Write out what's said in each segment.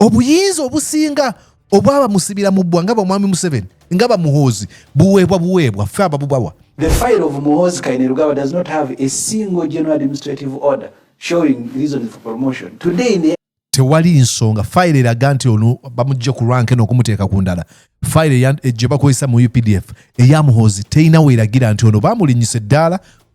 obuyinza obusinga obwaba musibira mubbwa nga bamwami museveni nga bamuhoozi buweebwa buweebwa fe ababubawa The file of Muhozi Kainerugaba does not have a single general administrative order showing reasons for promotion. Today in the tewali nsonga fayiro eraga nti ono bamujja ku rank eno okumuteeka ku ndala fayiro gye bakozesa mu updf eyamuhoozi terina weeragira nti ono bamulinyisa eddaala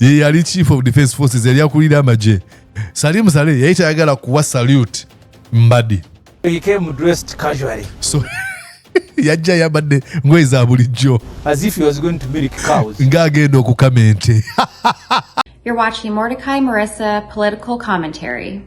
ye yali chief of defense forces yali akulira amagye salimu sale yali tayagala kuwa salute mbadi so yajja yabadde ngoye za bulijjo ng'agenda okukama ente You're watching Mordecai Marissa Political Commentary.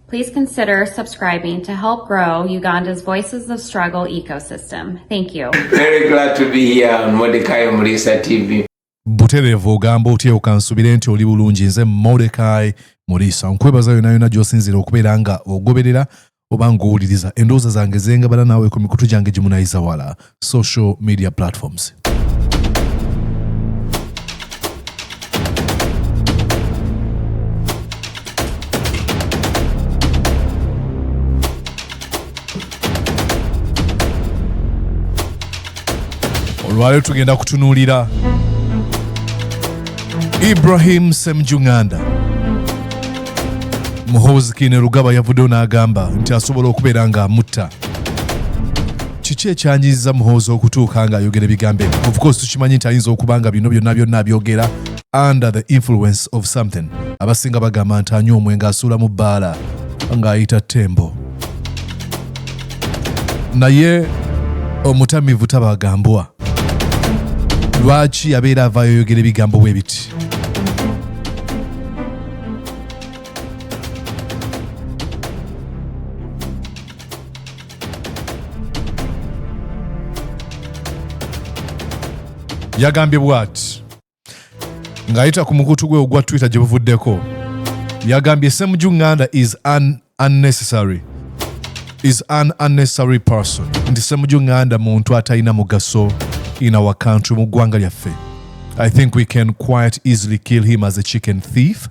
Please consider subscribing to help grow Uganda's Voices of Struggle ecosystem. Thank you. Very glad to be here on Mordecai Marissa TV. butereevu ogamba otyewo kansubire nti oli bulungi nze modekai muriisa nkwebaza yona yona gyosinzira okubeera nga ogoberera oba ngaowuliriza endowooza zange zengabala naawe ku mikutu gyange gimunayiza wala social media platforms olwaleero tugenda kutunuulira ibrahim semjunganda muhoozi kine rugaba yavuddeyo n'agamba nti asobola okubeera nga mutta kiki ekyanyiza muhoozi okutuuka ng'ayogera ebigambo ebyo of course tukimanyi nti ayinza okuba nga bino byonna byonna abyogera under the influence of something abasinga bagamba nti anywa omwenge asuula mu bbaala ng'ayita tembo naye omutamivu tabagambwa lwaki abeera avaayo oyogera ebigambo bwe biti yagambye bwati ng'ayita ku mukutu gwe ogwa twitter gye buvuddeko yagambye semuju nganda is an unnecessary is an unnecessary person nti semuju nganda muntu atalina mugaso in our country mu ggwanga lyaffe i think we can quite easily kill him as a chicken thief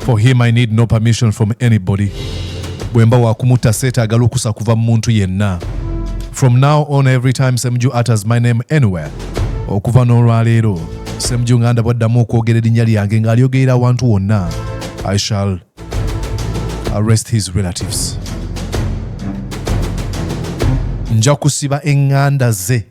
For him I need no permission from anybody. Bwemba wakumutta seetaaga lukusa kuva mu muntu yenna. From now on every time Semju utters my name anywhere. Okuva n'olwaleero Semju nganda bwaddamu okwogera erinnya lyange ng'alyogerera awantu wonna. I shall arrest his relatives. Nja kusiba enganda ze.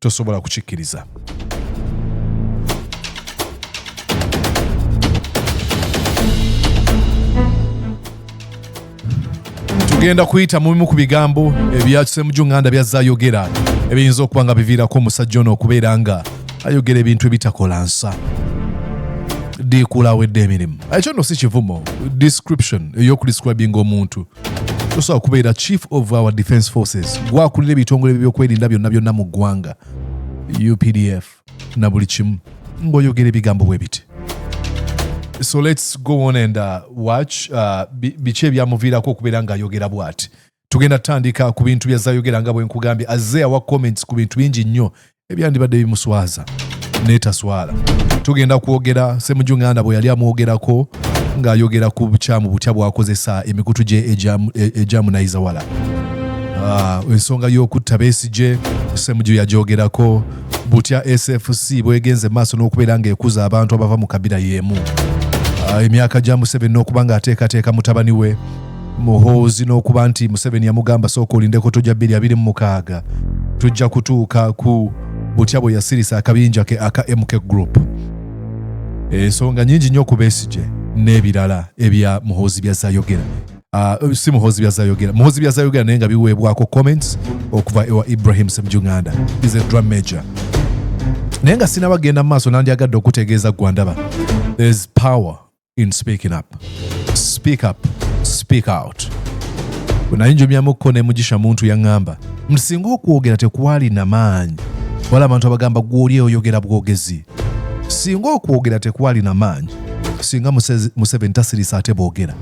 tosobola kukikkiriza. tugenda kuyita mu bimu ku bigambo ebyakisemujju nganda byazze ayogera ebiyinza okuba nga biviirako omusajja ono okubeera nga ayogera ebintu ebitakola nsa diikuula awedde emirimu ekyo nno si kivumo description ey'okudescribinga omuntu tosobola kubeera chief of our defense forces gwakulira ebitongole byokwerinda byonna byonna mu ggwanga updf na buli kimu ng'oyogera ebigambo bwe biti so let's go on and uh, watch uh, biki ebyamuviirako okubeera ng'ayogera bwati tugenda tutandika ku bintu byazayogera nga bwenkugambye azze awa comments ku bintu bingi nnyo ebyandibadde bimuswaza netaswala tugenda kwogera semuju nganda bwe yali amwogerako ng'ayogera ku bukyamu butya bwakozesa emikutu gye egyamunayizawala e, ah, ensonga y'okutta besigye semuju yagyogerako butya sfc bwegenze maaso n'okubeera ng'ekuza abantu abava mu kabira y'emu ah, emyaka gya museveni n'okuba ng'ateekateeka mutabani we muhoozi n'okuba nti museveni yamugamba sooka olindeko tojja 226 tujja kutuuka ku butya bwe yasirisa akabinja ke aka mk group ensonga nyingi nnyo ku besigye n'ebirala ebya muhoozi byazayogera ah, si muhoozi byazayogera muhoozi byazayogera naye nga biweebwako comments okuva ewa ibrahim semjunganda is a drum major naye nga sinabagenda mu maaso nandyagadde okutegeeza gwandaba there's power in speaking up. Speak up, speak out. Bwenayinjumyamukko ne Mugisha Muntu yaŋŋamba nti singa okwogera tekwalina maanyi wala abantu abagamba gw'oli oyogera bwogezi. Singa okwogera tekwalina maanyi singa Museveni tasirisa ate boogera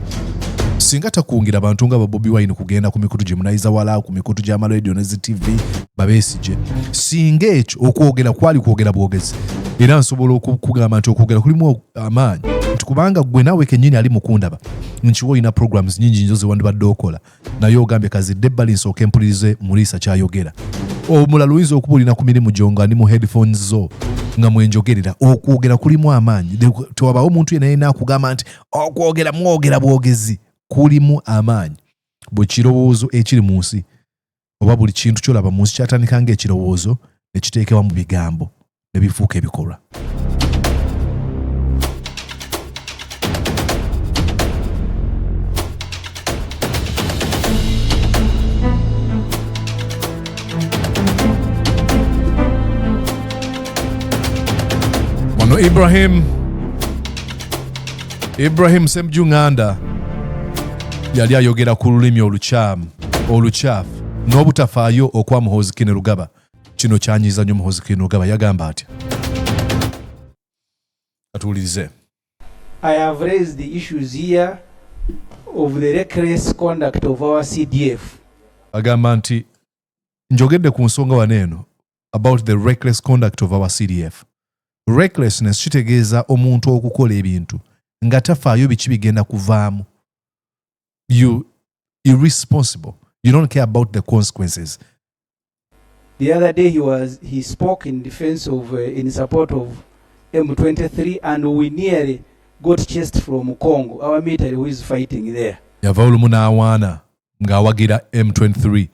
singa takungira bantu nga babobi wine kugenda ku mikutu gye munayiza wala ku mikutu gy'amaladio ne zi tv babeesigye singa ekyo okwogera kwali kwogera bwogezi era nsobola okukugamba nti okwogera kulimu amaanyi nti kubanga gwe naawe kenyini ali mukundaba nkiwa olina programs nyingi nyo zewandibadde okola naye ogambye kazidde ebbali nsooka empulirize muriisa kyayogera omulala oyinza okuba olina ku mirimu gyo nga ni mu headphones zo nga mwenjogerera okwogera kulimu amaanyi tewabawo omuntu yena yena akugamba nti okwogera mwogera bwogezi kulimu amaanyi bwe kirowoozo ekiri mu nsi oba buli kintu kyolaba mu nsi kyatandika nga ekirowoozo ne kiteekewa mu bigambo ne bifuuka ebikolwa Ibrahim ibrahim semju nganda yali ayogera ku lulimi olukyamu olukyafu n'obutafaayo okwa muhozikine rugaba kino kyanyiza nyo muhozikine rugaba yagamba atya atuwulirize I have raised the issues here of the reckless conduct of our CDF. Agamba nti njogedde ku nsonga wano eno about the reckless conduct of our cdf recklessness kitegeeza omuntu okukola ebintu nga tafaayo biki bigenda kuvaamu you irresponsible you don't care about the consequences the other day he was he spoke in defense of uh, in support of m23 and we nearly got chased from congo our military who is fighting there yava olumu n'awaana ng'awagira m23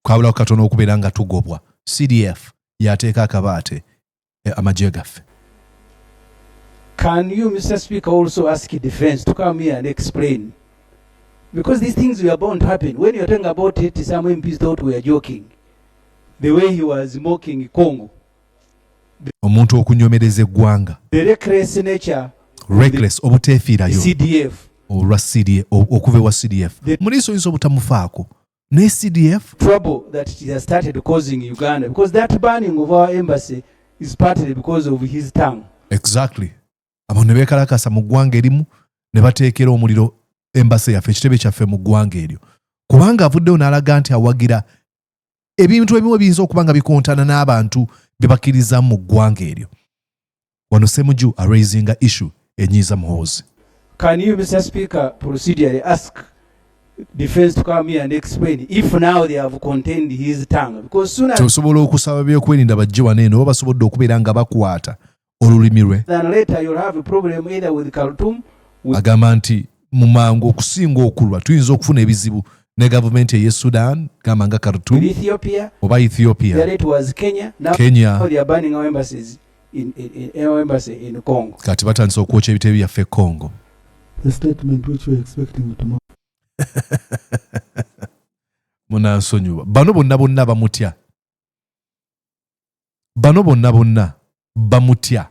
kwabulawo katono okubeera nga tugobwa cdf yateeka akabaate eh, amagye gaffe Can you, Mr. Speaker, also ask defense to come here and explain? Because these things were bound to happen. When you're talking about it, some MPs thought we were joking. The way he was mocking Congo. omuntu okunyomereza eggwanga reckless obuteefiirayo olwa okuva ewa cdf muli nsoyinza obutamufaako ne CDF trouble that it has started causing Uganda because that burning of our embassy is partly because of his tongue exactly abo ne bekalakasa mu ggwanga erimu ne bateekera omuliro embassy yaffe ekitebe kyaffe mu ggwanga eryo kubanga avuddewo n'alaga nti awagira ebintu ebimu ebiyinza okuba nga bikontana n'abantu bye bakkirizamu mu ggwanga eryo wano Semuju araisinga issue enyiiza Muhoozi. Can you Mr Speaker procedurally ask defense to come here and explain if now they have contained his tongue because sooner tosobola okusaba byokwerinda bajje wano eno oba basobodde okubeera nga bakwata olulimi lwe agamba nti mu mangu okusinga okulwa tuyinza okufuna ebizibu ne gavumenti eye sudan gamba nga kartum oba ethiopia kenya kati batandise okwokya ebitebe byaffe e congo munansonyiwa bano bonna bonna bamutya bano bonna bonna bamutya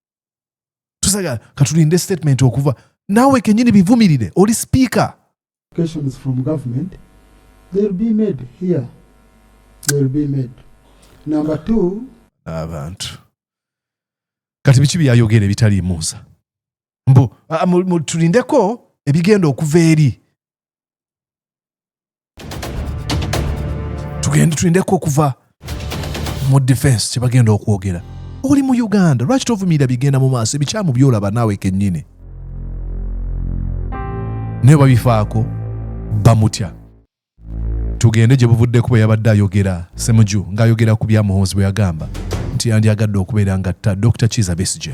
tusaga katulinde statement okuva nawe kenyini bivumirire oli speaker questions from government they'll be made here they'll be made number 2 abantu kati biki byayogera ebitali musa mbu tulindeko ebigenda okuva eri tugende tulindeko okuva mu defense kyebagenda okwogera oli mu uganda lwaki tovumirira bigenda mu maaso ebikyamu byolaba naawe kennyini naye babifaako bamutya tugende gye buvudde kuba yabadde ayogera semuju ng'ayogera ku bya muhoozi bwe yagamba nti yandyagadde okubeera ngatta dr kiza besige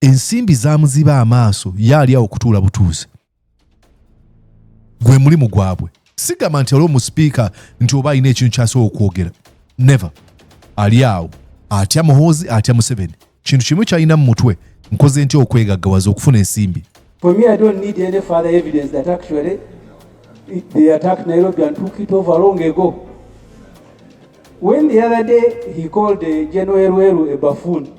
ensimbi zamuziba amaaso ye ali awo kutuula butuuzi gwe mulimu gwabwe sigamba nti aliwo mu sipiika nti oba alina ekintu kyasobola okwogera never ali awo atya muhoozi atya museveni kintu kimu kyalina mu mutwe nkoze ntya okwegaggawaza okufuna ensimbi For me, I don't need any further evidence that actually it, they attacked Nairobi and took it over long ago. When the other day he called uh, General Elwelu a buffoon,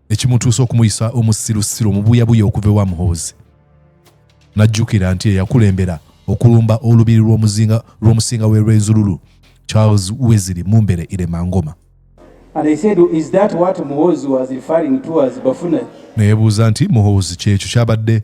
ekimutuusa okumuyisa omusirusiru omubuyabuya okuva ewa muhoozi n'ajjukira nti eyakulembera okulumba olubiri lw'omusinga w'e rwenzululu charles weziri mumbere iremangoma neyebuuza nti muhoozi kyekyo kyabadde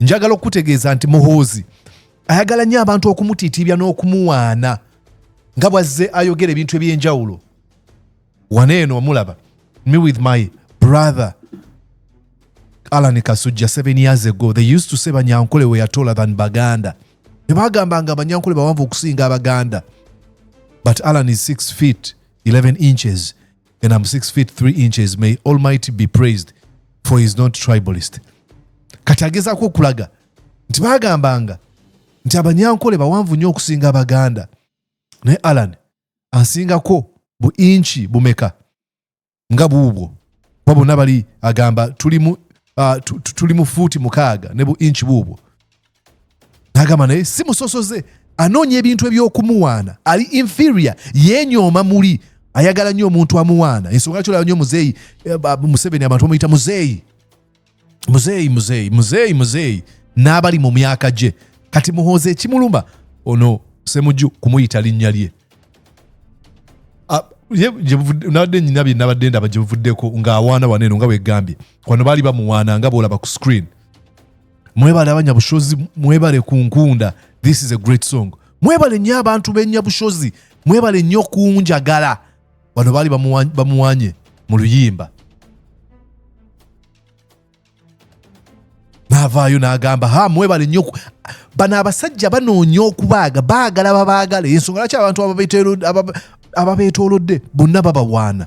njagala okukutegeeza nti muhoozi ayagala nnyo abantu okumutiitiibya n'okumuwaana nga bwazze ayogera ebintu eby'enjawulo wana eno omulaba me with my brother alan kasujja seven years ago they used to say banyankole we yatola than baganda tebagamba nga abanyankole bawanvu okusinga abaganda but alan is 6 feet 11 inches and I'm six feet three inches. May Almighty be praised for he's not tribalist. Kati agezaako okulaga nti baagambanga nti abanyankole bawanvu nnyo okusinga abaganda naye alan ansingako bu inchi bumeka nga buubwo ba bonna bali agamba tuli mu uh, fuuti mukaaga ne bu inchi buubwo n'agamba naye si musosoze anoonya ebintu eby'okumuwaana ali inferior yeenyooma muli ayagala nnyo omuntu amuwaana ensonga lwaki olaba nnyo muzeeyi eh, museveni abantu bamuyita muzeeyi muzeeyi muzeeyi muzeeyi muzeeyi n'abali mu myaka gye kati muhoozi ekimuluma ono semujju kumuyita linnya lye ah, nabadde nyina bye nabadde ndaba gye buvuddeko ng'awaana waneeno nga bwegambye kwano baali bamuwaana nga bwolaba ku screen mwebale abanyabushozi mwebale kunkunda this is a great song mwebale nnyo abantu benyabushozi mwebale nnyo kunjagala bano baali bamuwanye mu luyimba naavaayo n'agamba ha mwebale nnyo bano abasajja banoonya okubaaga baagala babaagala ensonga lwaki abantu ababeetoolodde bonna babawaana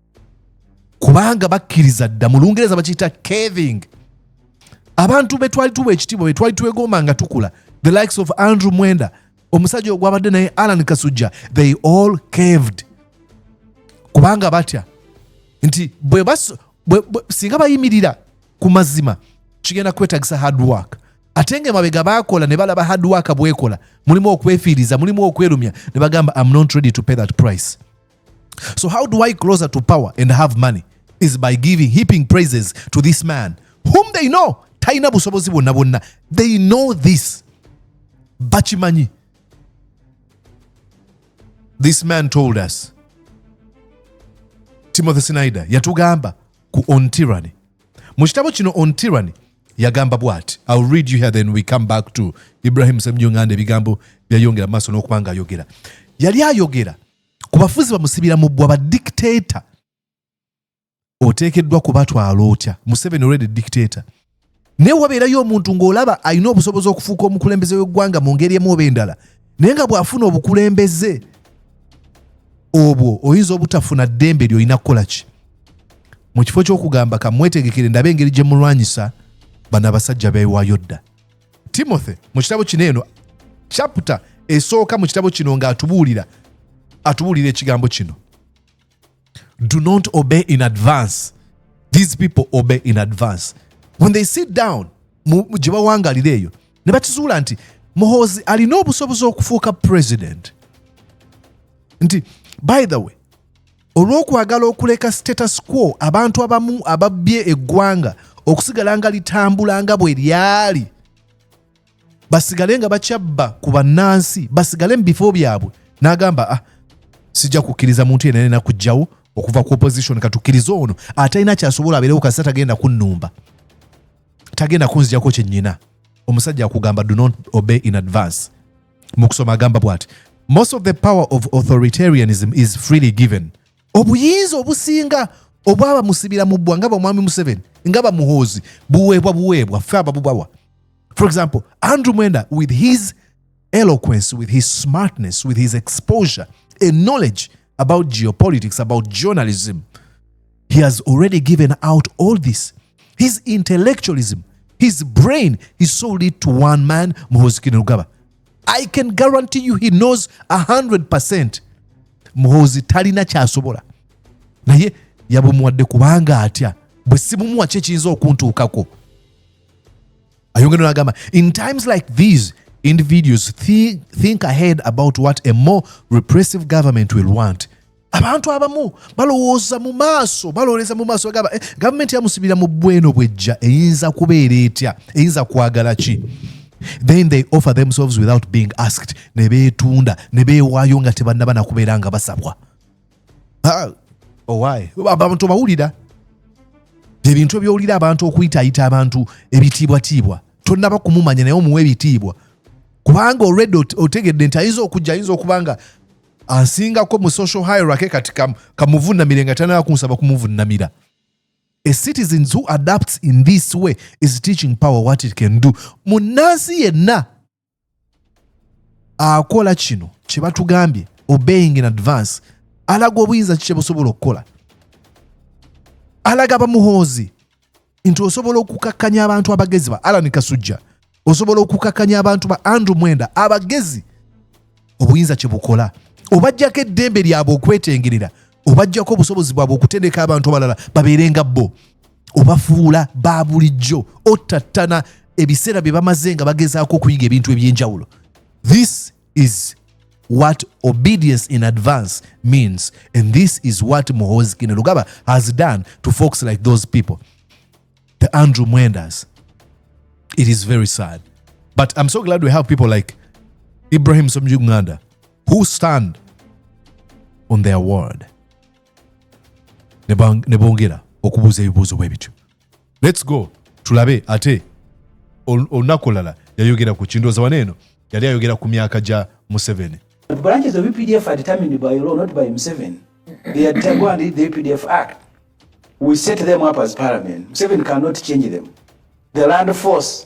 kubanga bakkiriza dda mu lungereza bakiyita caving abantu betwali tuwa ekitiibwa betwali twegomba nga tukula the likes of andrew mwenda omusajja ogwabadde naye alan kasujja they all caved kubanga batya nti singa bayimirira ku mazima kigenda kwetagisa hard work ate nga emabega bakola ne balaba hard work bwekola mulimu okwefiiriza mulimu okwerumya ne bagamba am not ready to pay that price So how do I closer to power and have money is by giving heaping praises to this man whom they know talina busobozi bwonna bwonna they know this bakimanyi this man told us timothy snyder yatugamba ku on tyranny mu kitabo kino on tyranny yagamba bwati ill read you here then we come back to ibrahim semjunganda ebigambo byayongera maaso n'okuba nga ayogera yali ayogera ku bafuzi bamusibira mu bbwa badictator oteekeddwa kubatwala otya museveni olwede dictator naye wabeerayo omuntu ng'olaba alina obusobozi okufuuka omukulembeze w'eggwanga mu ngeri emu oba endala naye nga bw'afuna obukulembeze obwo oyinza obutafuna ddembe lyolina kukola ki mu kifo ky'okugamba kamwetegekere ndabe engeri gye mulwanyisa bano abasajja beewaayo dda timothy mu kitabo kino eno chaputa esooka mu kitabo kino ng'atubuulira atubuulira ekigambo kino do not obey in advance these people obey in advance when they sit down gye bawangalira eyo ne bakizuula nti muhoozi alina obusobozi okufuuka president nti by the way olw'okwagala okuleka status quo abantu abamu ababbye eggwanga okusigala nga litambula nga bwe lyali basigale nga bakyabba ku bannansi basigale mu bifo byabwe n'agamba ah sijja kukkiriza muntu yena nena kujjawo okuva ku opposition katukkirize ono atalina kyasobola abeerewo kasita tagenda kunnumba tagenda kunzijako kyennyina omusajja akugamba do not obey in advance mu kusoma agamba bwati most of the power of authoritarianism is freely given obuyinza obusinga obwaba musibira mu bbwa nga bamwami museveni nga bamuhoozi buweebwa buweebwa ffe ababubawa for example andrew mwenda with his eloquence with his smartness with his exposure and knowledge about geopolitics, about journalism. He has already given out all this. His intellectualism, his brain, he sold it to one man, Muhoozi Kainerugaba. I can guarantee you he knows 100% Muhoozi talina kyasobola naye yabumuwadde kubanga atya bwe sibumuwa kyekiyinza okuntuukako ayongera n'agamba in times like these individuals thi think ahead about what a more repressive government will want abantu abamu balowooza mu maaso balowooleza mu maaso bagamba eh, gavumenti yamusibira mu bweno bwejja eyinza kubeera etya eyinza kwagala ki then they offer themselves without being asked ne beetunda ne beewaayo nga tebannaba nakubeera nga basabwa owaye oh, abantu obawulira ebintu ebyowulira abantu okuyitayita abantu ebitiibwatiibwa tonaba kumumanya naye omuwa ebitiibwa kubanga olwedde otegedde nti ayinza okujja ayinza okuba nga asingako mu social hierarchy kati kamuvunamire nga tanaba kunsaba kumuvunamira a citizens who adapts in this way is teaching power what it can do munansi yenna akola kino kye batugambye obeying in advance alaga obuyinza kikye busobola okukola alaga bamuhoozi nti osobola okukakkanya abantu abagezi ba alani kasujja osobola okukakkanya abantu ba andrew mwenda abagezi obuyinza kye bukola obajjako eddembe lyabwe okwetengerera obajjako obusobozi bwabwe okutendeka abantu abalala babeere nga bo obafuula ba bulijjo ottattana ebiseera bye bamaze nga bagezaako okuyiga ebintu eby'enjawulo this is what obedience in advance means and this is what muhozi kinerugaba has done to folks like those people the andrew mwendas it is very sad but i'm so glad we have people like ibrahim somjuganda who stand on their word ne bongera okubuuza ebibuuzo bwe bityo lets go tulabe ate olunaku olulala yayogera ku kindooza wano eno yali ayogera ku myaka gya museveni branches of EPDF are determined by law, not by Museven. They are determined the EPDF Act. We set them up as parliament. Museven cannot change them. The land force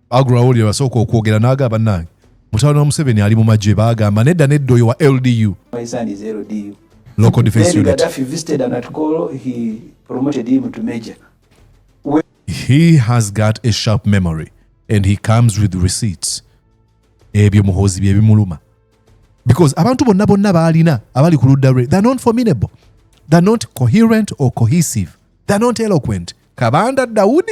agulawo lye basooka okwogera naaga bannange mutabani wa museveni ali mu magye baagamba nedda nedda oyo wa ldu local defense unit he has got a sharp memory and he comes with receipts ebyo muhoozi bye bimuluma because abantu bonna bonna baalina abali ku ludda lwe they're not formidable they're not coherent or cohesive they're not eloquent kabanda dawudi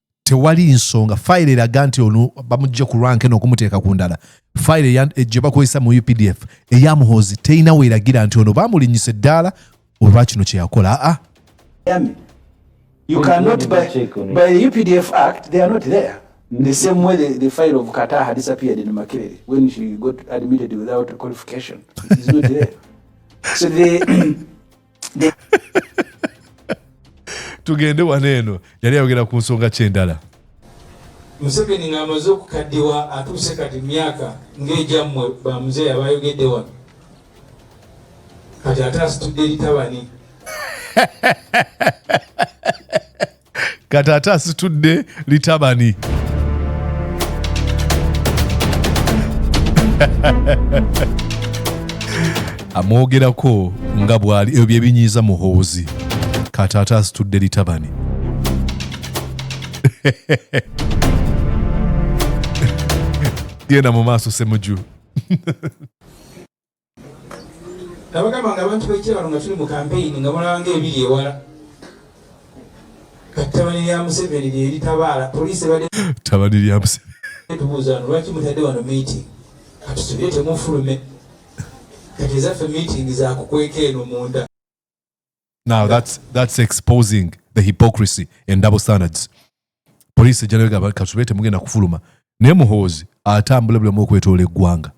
tewali nsonga fayiro eraga nti ono bamujja ku rank eno okumuteeka ku ndala fayiro eh, gye bakozesa mu updf eya muhoozi terina weeragira nti ono bamulinyisa eddaala olwa kino kye yakola aa You cannot by, by the UPDF Act, they are not there. Mm. The same way the, the file of Qatar had disappeared in Makere when she got admitted without qualification. It's not there. so the tugende wano eno yali ayogera ku nsonga kyendala museveni ng'amaze okukaddiwa atuuse kati myaka ng'egyammwe bamuzeeyi abayogedde wano kati ate asitudde litabani kati ate asitudde litabani amwogerako nga bwali ebyo byebinyiiza muhoozi kati ate asitudde litabani genda mu maaso semuju nabagamba nga abantu bekyalo nga tuli mu kampeyini nga mulaba nga ebiri ewala kattabani lya museveni lyeritabaala poliisi ebadde tabani lya museveni tubuuza no lwaki mutadde wano meeting katusubire temufulume kati ezaffe meeting zakukweka eno munda now that's that's exposing the hypocrisy and double standards police ejjanabega kasube temugenda kufuluma naye muhoozi atambula bulamu okwetoola eggwanga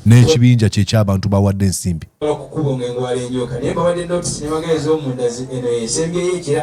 n'ekibinja kye ky'abantu bawadde ensimbi okukuba nga engwala enyoka naye babadde notisi nebagala ez'omunda eno esembyeyo ekira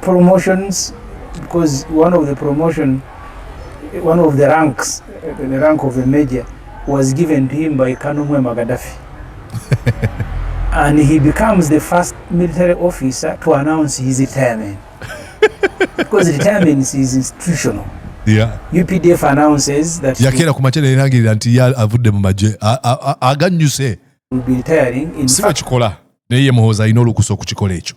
promotions because one of the promotion one of the ranks the rank of a major was given to him by Kanumwe Magadafi and he becomes the first military officer to announce his retirement because retirement is institutional Yeah. UPDF announces that yakeera ku makya nerangirira nti ya avudde mu magye aganyuse si bwekikola naye ye muhoozi alina olukusa okukikola ekyo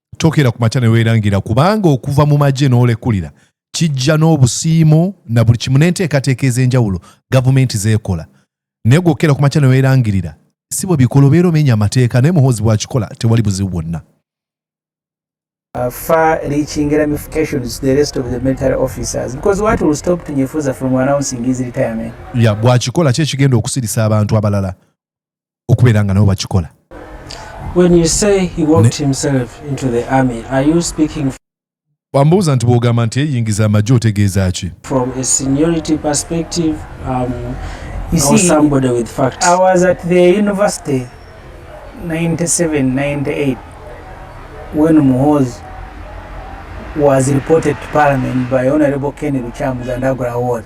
tokera ku makya ne weerangira kubanga okuva mu magye n'olekulira kijja n'obusiimo na buli kimu n'enteekateeka ez'enjawulo gavumenti zeekola naye gwokera ku makya ne weerangirira si bwe bikola obeera omenya amateeka naye muhoozi bw'akikola tewali buzibu bwonna Uh, far reaching ramifications to the rest of the military officers because what will stop Tunyefuza from announcing his retirement. Yeah, bwakikola kye kigenda okusirisa abantu abalala. okubeera nga nabo bakikola bambuuza nti bwogamba nti eyingiza amagye otegeeza ki when Muhoz was reported to Parliament by Honorable Kenny Luchamuza and Agra Award.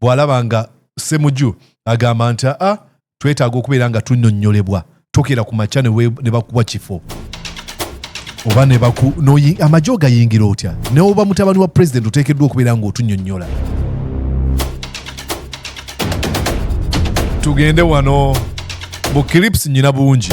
bw'alaba nga semuju agamba nti a twetaaga okubeera nga tunyonyolebwa tokera ku makya ne bakuwa kifo oba nebaku amagye ogayingira otya neoba mutabani wa pulezidenti oteekeddwa okubeera ng'otunyonyola tugende wano bu clips nyina bungi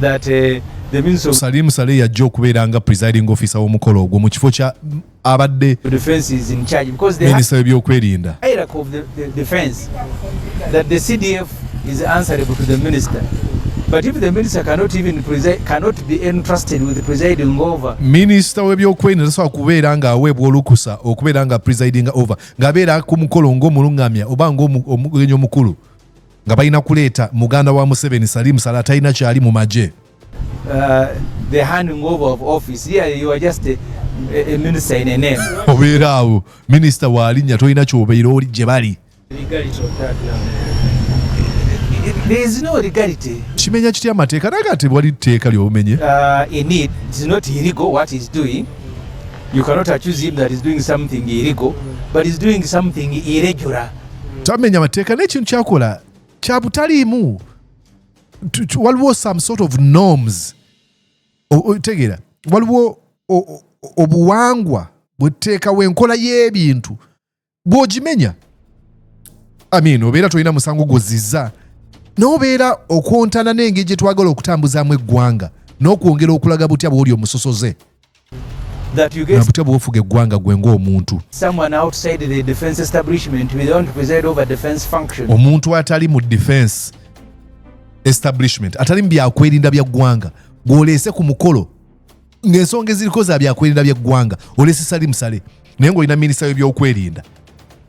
that uh, the minister of Salim Saleh yajja okubeera nga presiding officer w'omukolo ogwo mu kifo kya mm, abadde defense is in charge because they minister w'ebyokwerinda hierarchy of the, the defense that the CDF is answerable to the minister but if the minister cannot even preside cannot be entrusted with presiding over minister w'ebyokwerinda tasobola kubeera nga aweebwa olukusa okubeera nga presiding over ng'abeera ku mukolo ng'omulungamya oba ng'omugenyi omukulu nga balina kuleeta muganda wa museveni salimu sala talina kyali mu magye uh, obeera awo minisita waalinya tolina kyobeera oli gye bali kimenya kitya amateeka naye kati wali tteeka lyobumenye uh, You cannot accuse him that he's doing something illegal, but he's doing something irregular. tamenya mateeka naye ekintu kyakola kyabutaliimu waliwo some sort of norms tegeera waliwo obuwangwa bweteekawo enkola y'ebintu bwogimenya amin obeera tolina musango gwoziza nobeera okwontana n'engeri gye twagala okutambuzaamu eggwanga n'okwongera okulaga butya bwoli omusosoze na butya bwofuga eggwanga gwe ng'omuntu omuntu atali mu defense establishment atali mu byakwerinda bya ggwanga gwoleese ku mukolo ng'ensonga eziriko za byakwerinda bya ggwanga oleese sali musale naye ng'olina minisita w'ebyokwerinda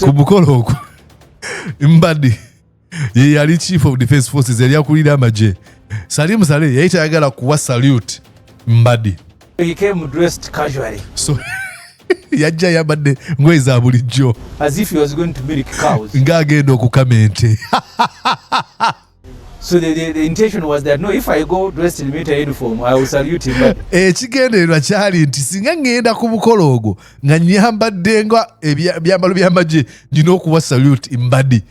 ku mukolo ogwo mbadi ye yali chief of defense forces yali akulira amagye salimu sale yali tayagala kuwa salute mbadi He came dressed casually. So yajja yabadde ngoye za bulijjo ng'agenda okukama ente So the, the, the intention was that no, if I go dressed in military uniform, I will salute him. But... Ekigendererwa kyali nti singa ngenda ku mukolo ogwo nga nyambadde nga ebyambalo by'amagye nina okuwa salute mbadi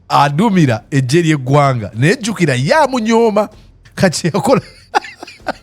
adumira eggye ly'eggwanga naye jjukira ye amunyooma kati yakola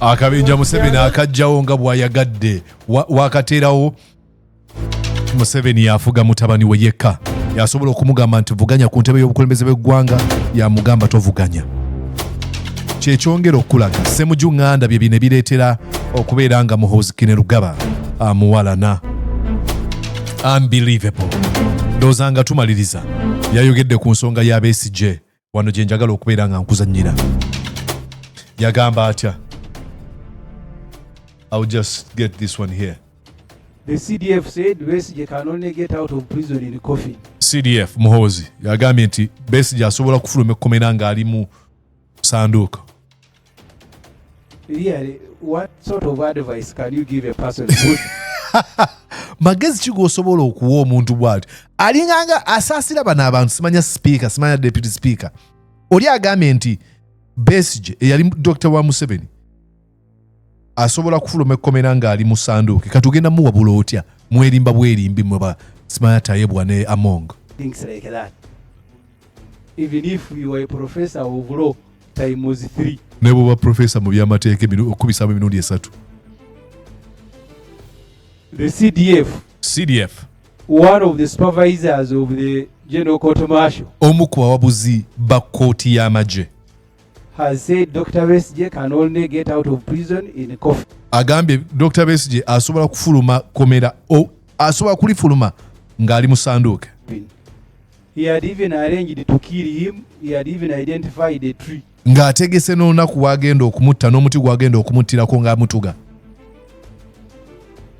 akabinja museveni akajjawo nga bwayagadde wakateerawo museveni yafuga mutabani we yekka yasobola okumugamba nti vuganya ku ntebe y'obukulembeze bw'eggwanga yamugamba tovuganya kyekyongera okukulaga semuju ŋŋanda bye bino ebireetera okubeera nga muhozikine lugaba amuwalana unbelievable ndowooza nga tumaliriza yayogedde ku nsonga y'abesigye wano gye njagala okubeera nga nkuzanyira yagamba atya I'll just get this one here. The CDF said Besigye can only get out of prison in coffin. CDF Muhoozi yagambye nti Besigye asobola kufuluma ekkomera ng'ali mu sanduuko. really what sort of advice can you give a person magezi ki gwosobola okuwa omuntu bwati alinganga asaasira bano abantu simanya sipiika simanya deputy sipiika oli agambye nti besige eyali dokita wa museveni asobola kufuluma ekkomera ng'ali mu sanduuke kati ogenda muwabula otya mwerimba bwerimbi mwe ba smaya tayebwa ne among things like that even if you are a professor of law time was three ne bwoba professor mu byamateeka okubisaamu emirundi esatu the cdf cdf one of the supervisors of the general court marshal omu ku bawabuzi ba kkooti y'amagye has said Dr. Besigye can only get out of prison in a coffin. Agambye Dr. Besigye asobola kufuluma komera o asobola kulifuluma ng'ali mu sanduuke. He had even arranged to kill him. He had even identified a tree. Ng'ategese n'olunaku w'agenda okumutta n'omuti gw'agenda okumuttirako ng'amutuga.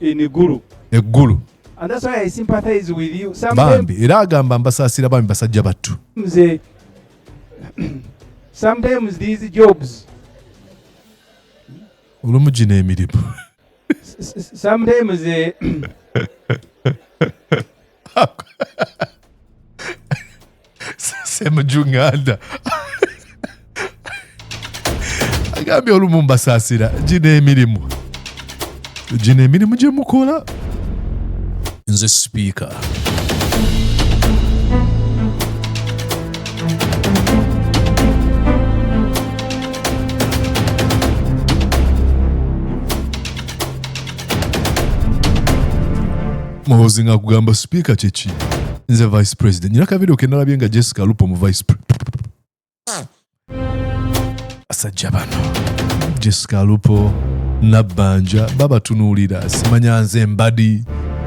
In Gulu. Eggulu. And that's why I sympathize with you. Some bambi, era agamba mbasaasira bambi basajja battu. Mze sometimes these jobs olumu gino emirimu sometimes eh, semujunganda agambye olumu mbasaasira gino emirimu gino emirimu gye mukola nze sipiika muhozi nga kugamba sipiika kyeki nze vice president nyina kavidio kenalabye nga jessica lupo mu vice president basajja bano jessica lupo nabbanja babatunuulira simanya nze mbadi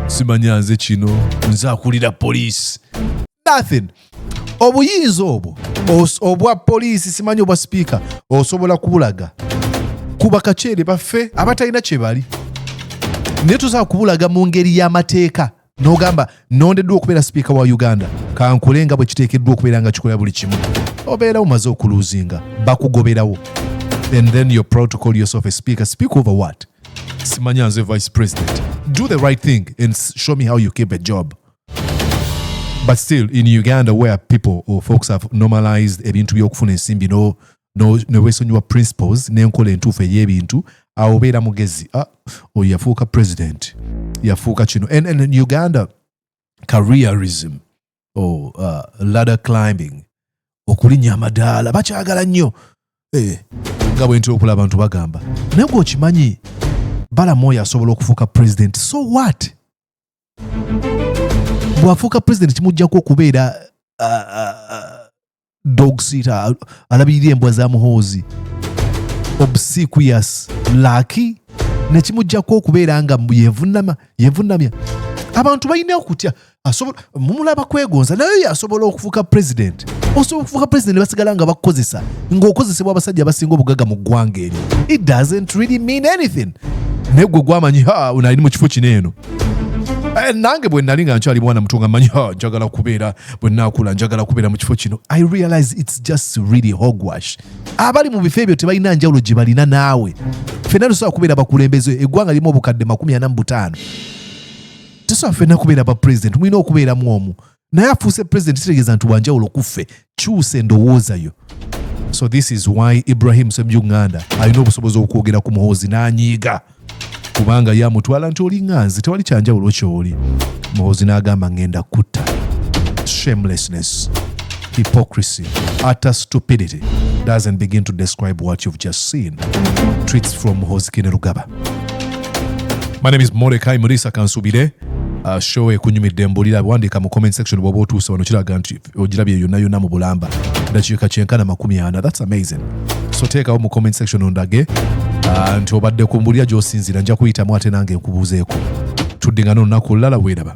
simanya nze kino nze akulira poliisi nothing obuyinza obwo obwa poliisi simanyi obwa sipiika osobola kubulaga ku bakaceere baffe abatalina kyebali naye tusobola kubulaga mu ngeri y'amateeka n'ogamba nondeddwa okubeera sipiika wa uganda kankule nga bwe kiteekeddwa okubeera nga kikola buli kimu obeera omaze okuluuzinga bakugoberawo and then your protocol yourself a speaker speak over what simanya nze vice president do the right thing and show me how you keep a job but still in uganda where people or folks have normalized ebintu by'okufuna ensimbi no ne weesonyiwa principles n'enkola entuufu ey'ebintu awo obeera mugezi ah, oyo yafuuka president yafuuka kino and, and uganda careerism or uh, ladder climbing okulinnya amadaala bakyagala nnyo eh, nga bwe ntera okulaba abantu bagamba naye gwe okimanyi balamu oyo asobola okufuuka president so what bw'afuuka president kimuggyako okubeera uh, uh, uh, dog sitter alabirira embwa za muhoozi obsequious laki nekimujjako okubeera nga yevunama yevunamya abantu balina okutya mumulaba kwegonza naye yo asobola okufuuka president osobola okufuuka president basigala nga bakukozesa ngaokozesebwa abasajja abasinga obugaga mu ggwanga eryo it doesn't really mean anything naye gwe gwamanyi nali mu kifo kino eno eh, nange bwe nali nga nkyali mwana muto nga manyi njagala kubeera bwe naakula njagala kubeera mu kifo kino i realize its just really hogwash abali mu bifo ebyo tebalina njawulo gye balina naawe fenna tosobola kubeera bakulembeze eggwanga lirimu obukadde makumi ana mu butaano tesobola fenna kubeera ba president mulina okubeeramu omu naye afuuse president kitegeeza nti wanjawulo kuffe kyusa endowooza yo so this is why ibrahim semjunganda alina obusobozi okwogera ku muhoozi n'anyiiga na kubanga yamutwala nti oli nganzi tewali kyanjawulo kyoli muhozi n'agamba ngenda kutta shamelessness hypocrisy utter stupidity doesn't begin to describe what you've just seen tweets from muhozi kinerugaba my name is morekai murisa kansubire uh, show ekunyumidde mbulira wandiika mu comment section bwoba otuuse wano kiraga nti ogirabye yonna yonna mu bulamba dakiika kyenkana makumi ana thats amazing so teekawo mu comment section ondage ah, nti obadde ku mbulira gyosinziira nja kuyitamu ate nange nkubuuzeeko tuddingana olunaku olulala weeraba